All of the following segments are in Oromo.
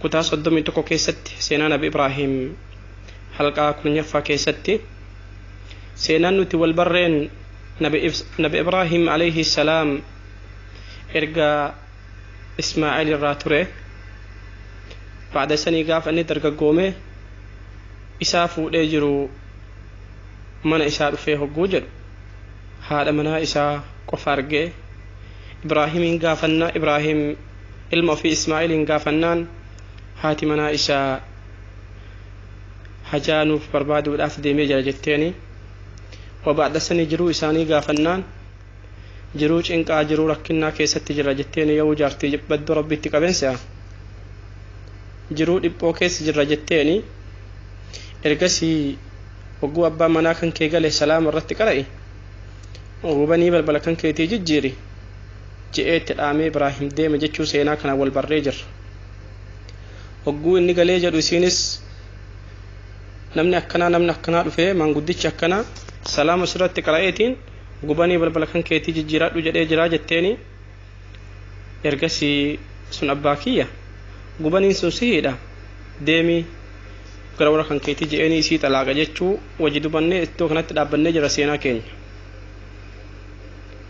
Kutaa 31 keessatti seenaa nabi Ibraahiim halqaa 10ffaa keessatti seenaan nuti wal barreen nabi Ibs- nabi Ibraahiim alayhi salaam erga Ismaa'eel irraa ture baada isanii gaafa inni dargaggoome isaa fuudhee jiru mana isaa dhufee hogguu jedhu haadha manaa isaa qofa argee Ibraahiimiin gaafannaa Ibraahiim ilma ofii Ismaa'iliin gaafannaan haati manaa isaa hajaa nuuf barbaaduudhaaf deemee jira jetteeni. Wabaadhasanii jiruu isaanii gaafannaan jiruu cinqaa jiruu rakkinnaa keessatti jira jetteeni yoo jaartii badduu rabbiitti qaben se'a. Jiruu dhiphoo keessa jirra jetteeni ergasii hogguu abbaan manaa kan kee gale salaama irratti qara'i. Gubanii balbala kan keetii jijjiiri. je'ee itti dhaamee Ibraahim deeme jechuu seenaa kanaan wal barree jirra. Hogguu inni galee jedhu isiinis namni akkanaa namni akkanaa dhufee maanguddichi akkanaa salaama sirratti qara'eetiin gubanii balbala kan keetii jijjiiraadhu jedhee jiraa jetteeni ergasii sun abbaa kiyya gubaniin sun sihiidha deemii gara warra kan keetii je'eenii isii xalaaqa jechuu wajji dubannee iddoo kanatti dhaabbannee jira seenaa keenya.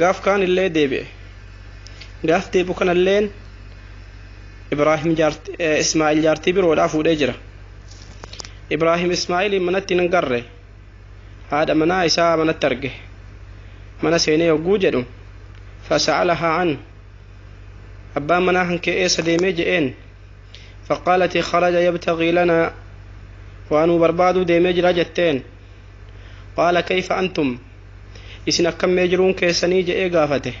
Gaaf kaanillee deebi'e. Gaaf deebi'u kanalleen Ibraahim Ismaa'il jaartii biroodhaa fuudhee jira. Ibraahim Ismaa'iliin manatti hin garre. Haadha manaa isaa manatti arge. Mana seenee yogguu jedhu fasa'alahaa an abbaan manaa kan kee eessa deemee je'een faqaalati kharaja yabtaqii lanaa waa nuu barbaaduu deemee jira jetteen qaala kayfa antum Isin akkam mee jiruun keessanii? je'ee gaafate.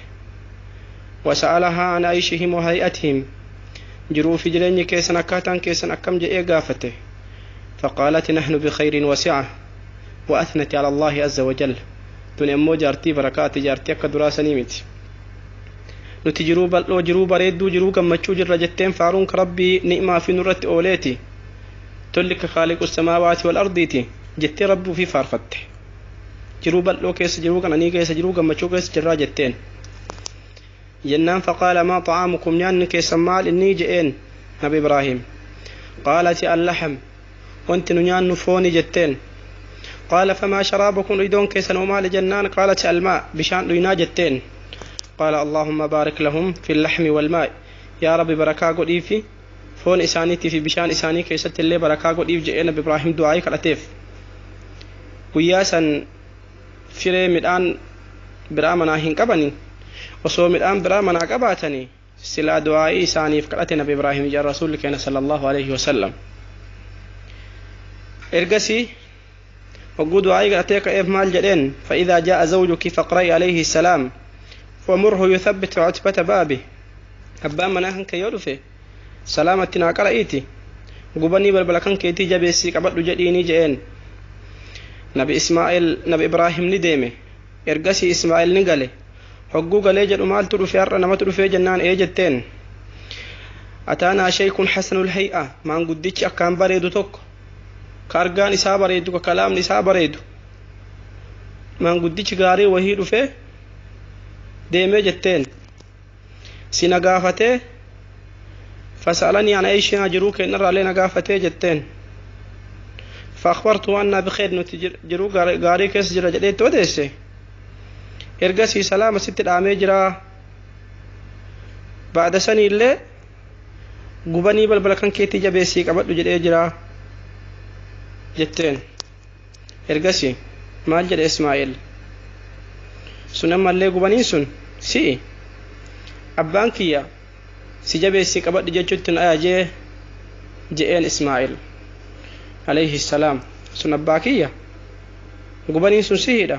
Wasa'alahaa an ayshihim wa hay'atihim. Jiruu fi jireenyi keessan akkaataan keessan akkam je'ee gaafate. Faqaalati nahnu bikhayrin wa si'a. Wa athnati ala Allaahi azza wa jal. Tuni ammoo jaartii barakaati jaartii akka duraa sanii miti. Nuti jiruu bal'oo, jiruu bareedduu, jiruu gammachuu jirra jetteen faaruun ka Rabbii ni'maa fi nurratti ooleeti. Tolli ka khaaliqu samaawaati wal ardiiti jettee Rabbii ufii faarfatte. jiruu bal'oo keessa jiruu qananii keessa jiruu gammachuu keessa jirraa jetteen jennaan faqaala maa xa'aamukum nyaanni keessan maal innii je'een nabi ibraahiim qaalati allaxam wanti nu nyaannu fooni jetteen qaala famaa sharaabukum dhuydoon keessan hoo maali jennaan qaalati almaa bishaan dhuynaa jetteen qaala allaahumma baarik lahum fi laxmi walmaa'i yaa rabbi barakaa godhiifi foon isaaniitii fi bishaan isaanii keessatti illee barakaa godhiif je'ee Nabi Ibraahiim du'aa'ii kadhateef. Guyyaa san firee midhaan biraa manaa hin qabani. Osoo midhaan biraa manaa qabaatani silaa du'aa'ii isaaniif kadhate Nabi Ibraahiim je'an Rasuulli keenya sallallahu aleyhi wasallam. Ergasii hogguu du'aa'ii kadhattee ka'eef maal jedheen fa'idaa jaa'a zawjuki faqra'i alayhi salaam wamurhu yuthabbit cutbata baabi abbaan manaa kan kee yoo dhufe salaama itti naa qara'iiti gubanii balbala kan keetii jabeessii qabadhu jedhiinii jedheen nabi ismaa'il nabi ibraahim ni deeme ergasii ismaa'il ni gale hogguu galee jedhu maaltu dhufe har'a namatu dhufee jennaan ee jetteen ataanaa sheekun hasanul hay'a maanguddichi akkaan bareedu tokko ka argaan isaa bareedu ka kalaamni isaa bareedu maanguddichi gaarii wahii dhufee deemee jetteen si na gaafatee fasaalanii an aishaa jiruu keenyarraallee na gaafatee jetteen faakbartu waan naa bikeed nuti jiruu gaarii keessa jira jedhee itti odeesse ergasii salaama sitti dhaamee jiraa baada saniillee gubanii balbala kan keetii jabeessii qabadhu jedhee jira jetteen ergasii maal jedhe ismaa'eel sun ammallee gubaniin sun si'i abbaan kiyya si jabeessii qabadhu jechuutti na ajajee je'een ismaa'eel alayhi salaam sun abbaa kiyya gubaniin sun sihiidha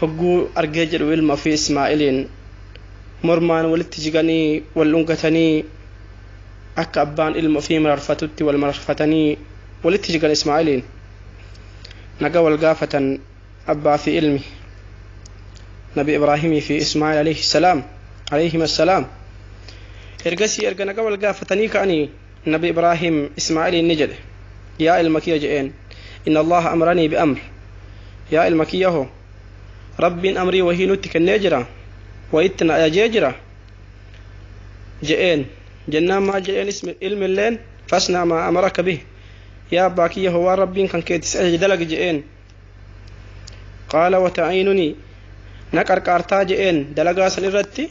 hogguu argee jedhu ilma ofii Ismaa'iliin mormaan walitti jiganii wal dhungatanii akka abbaan ilma ofii mararfatutti wal mararfatanii walitti jigan Ismaa'iliin naga wal gaafatan abbaa fi ilmi nabi Ibraahimii fi Ismaa'il alayhi salaam alayhim assalaam ergasii erga naga wal gaafatanii ka'anii Nabi Ibraahiim Ismaa'iliin ni jedhe, Yaa ilma kiyya je'een, Inna Allaaha amranii bi amr, Yaa ilma kiyya ho, Rabbiin amrii wahii nutti kennee jira, wayitti na ajajee jira. Je'een. Jennaan maal je'een ilmilleen, Fasna' maa amaraka bih, Yaa abbaa kiyya ho waan Rabbiin kan keeti si ajaje dalagi je'een. Qaala wa ta'iinunii, Na qarqaartaa je'een dalagaa san irratti.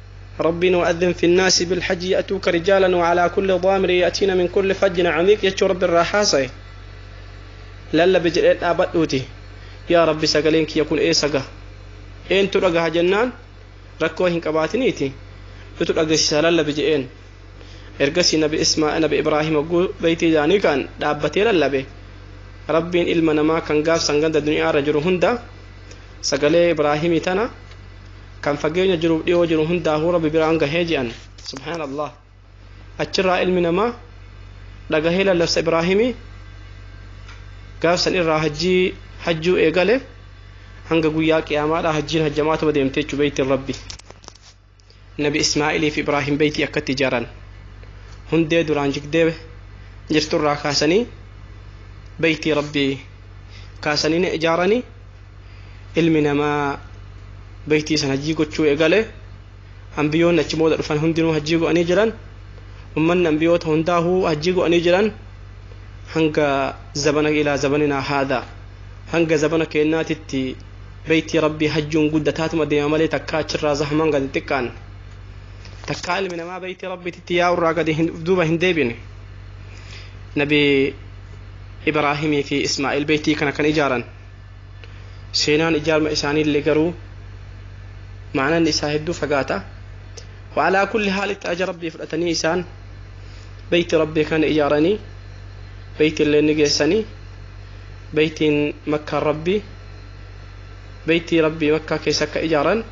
Rabbiin wa'adhin fi naasi bil hajji ya'tuuka rijaalan wa alaa kulli dhaamiri ya'tiina min kulli fajjin camiiq jechuu rabbi irraa haasaye lallabi jedhee dhaabadhuuti yaa rabbi sagaleen kiyya kun eessa ga eentu dhagaha jennaan rakkoo hin qabaatiniiti nutu dhagesisaa lallabi jedheen ergasii nabi ismaa nabi ibraahim hogguu beeytii isaanii kan dhaabbatee lallabe rabbiin ilma namaa kan gaafsan ganda duniyaa irra jiru hunda sagalee ibraahimii tana kan fageenya jiruuf dhiyoo jiru hundaahuu rabbi biraan gahee je'an subhaan allah achirraa ilmi namaa dhagahee lallabsa ibraahimii gaafsan irraa hajjii hajjuu eegale hanga guyyaa qiyaamaadhaa hajjiin hajjamaatuma deemte jechuu beeytiin rabbi nabi ismaa'ilii fi ibraahim beeytii akkatti ijaaran hundee duraan jigdee jirturraa kaasanii beeytii rabbii kaasanii ni ijaaranii ilmi namaa beeytii san hajjii gochuu egale ambiyoonni achi booda dhufan hundinuu hajjii go'anii jiran ummanni ambiyoota hundaahuu hajjii go'anii jiran hanga zabana ilaa zabaninaa haadha hanga zabana keennaatitti beeytii rabbii hajjuun guddataatuma deema malee takkaa achirraa zahmaan gadi xiqqaan takkaa ilmi namaa beeytii rabbiititti yaa'urraa gadi duuba hin deebine nabi ibraahimii fi ismaa'il beeytii kana kan ijaaran Seenaan ijaarma isaaniillee garuu ma'anaan isaa hedduu fagaata. Wa'alaa kulli haalitti aja Rabbii fudhatanii isaan beeyti Rabbii kana ijaaranii beeytillee ni geessanii beeytiin makkaan Rabbii beeytii Rabbii makkaa keessa akka ijaaran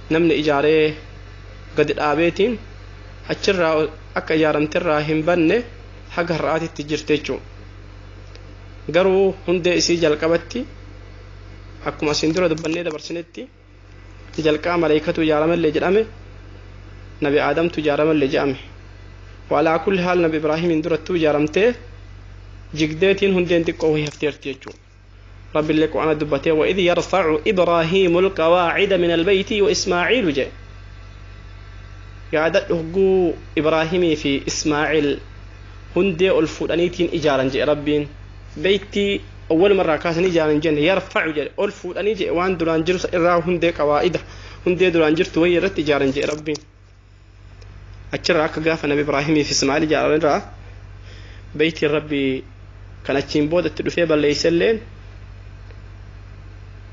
namni ijaaree gadi dhaabeetiin achirraa akka ijaaramterraa hin banne haga har'aatitti jirte jechuudha. garuu hundee isii jalqabatti akkuma asiin dura dubbannee dabarsinetti jalqaba maleeykatu ijaaramellee jedhame nabi aadamtu ijaaramellee jedhame waalaa kulli haal nabi ibraahimiin durattuu ijaaramtee jigdeetiin hundeen xiqqoo wahii hafteerti jechuudha Rabbillee Qur'aana dubbatee wa idh yarfa'u Ibraahiimul qawaacida minal beeyti wa Ismaa'iilu jee. Yaadadhu hogguu Ibraahimii fi Ismaa'iil hundee ol fuudhaniitiin ijaaran jee Rabbiin. Beeytii awwaluma irraa kaasanii ijaaran hin jenne yarfa'u jedhe ol fuudhanii jee waan duraan jiru san irraa hundee qawaa'ida hundee duraan jirtu wayii irratti ijaaran jee Rabbiin. achirraa akka gaafa nabi ibraahimiif ismaa'il ijaarame irraa beeytiin rabbii kan achiin booda itti dhufee balleeyse illeen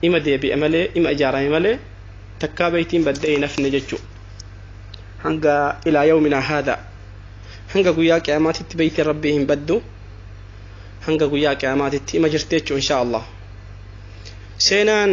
ima deebi'e malee ima ijaarame malee takkaa beeytiin baddee hin hafne jechuu hanga ilaa yawminaa haada hanga guyyaa qiyaamaatitti beeytiin rabbii hin baddu hanga guyyaa qiyaamaatitti ima jirti jechuu inshaa allah seenaan